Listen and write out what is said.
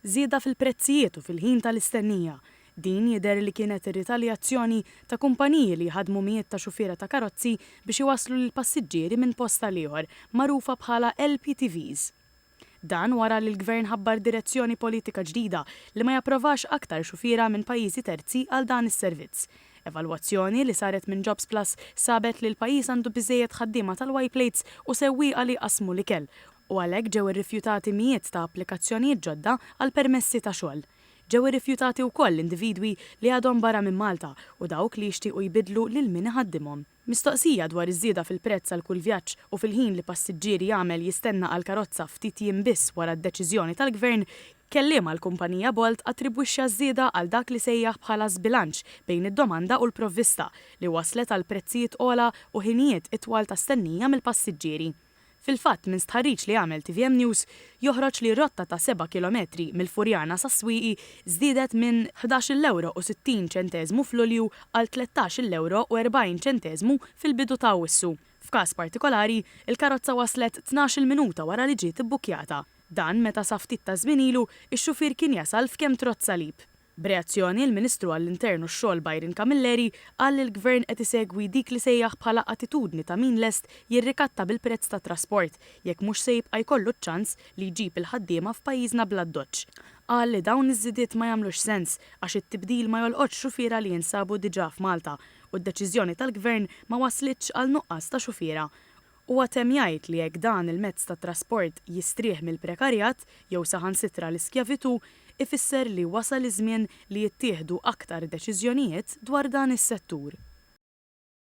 żieda fil-prezzijiet u fil-ħin tal-istennija. Din jidher li kienet ritaljazzjoni ta' kumpaniji li jħaddmu mijiet ta' xufiera ta' karozzi biex iwasslu lill-passiġġieri minn post għal ieħor, magħrufa bħala LPTVs. Dan wara li l-Gvern ħabbar direzzjoni politika ġdida li ma japprovax aktar xufiera minn pajjiżi terzi għal dan is-servizz. Evalwazzjoni li saret minn Jobsplus sabet li l-pajjiż għandu biżżejjed ħaddiema tal-Y-Plates u sewwieqa li jqassmu l-ikel, u għalhekk ġew irrifjutati mijiet ta' applikazzjonijiet ġodda għal permessi ta' xogħol. Ġew irrifjutati wkoll individwi li għadhom barra minn Malta u dawk li jixtiequ jbiddlu lil min iħaddimhom. Mistoqsija dwar iż-żieda fil-prezz għal kull vjaġġ u fil-ħin li passiġġieri jagħmel jistenna għall-karozza ftit jiem biss wara d-deċiżjoni tal-Gvern, kelliem għall-kumpanija Bolt attribwixxa ż-żieda għal dak li sejjaħ bħala żbilanċ bejn id-domanda u l-provvista, li wasslet għal prezzijiet ogħla u ħinijiet itwal ta' stennija mill-passiġġieri. Fil-fatt, minn stħarriġ li għamel tvm News, joħroġ li r-rotta ta' seba' kilometri mill-Furjana sas-Swieqi żdiedet minn ħdax-il ewro u sittin ċenteżmu f'Lulju għal tlettax-il ewro u erbgħin ċenteżmu fil-bidu ta' Awwissu. F'każ partikolari, il-karozza waslet tnax-il minuta wara li ġiet ibbukkjata. Dan meta sa ftit taż-żmien ilu, ix-xufier kien jasal f'Kemtrot Salib. B'reazzjoni, il-Ministru għall-Intern u x-Xogħol Byron Camilleri qal li l-Gvern qed isegwi dik li sejjaħ bħala attitudni ta' min lest jirrikatta bil-prezz tat-trasport jekk mhux se jibqa' jkollu ċ-ċans li jġib il-ħaddiema f'pajjiżna bl-addoċċ. Qal li dawn iż-żidiet ma jagħmlux sens għax it-tibdil ma jolqotx xufiera li jinsabu diġà f'Malta u d-deċiżjoni tal-Gvern ma wasslitx għal nuqqas ta' xufiera Huwa temm jgħid li jekk dan il-mezz ta' trasport jistrieħ mill-prekarjat, jew saħansitra l-iskjavitù, ifisser li wasal iż-żmien li jittieħdu aktar deċiżjonijiet dwar dan is-settur.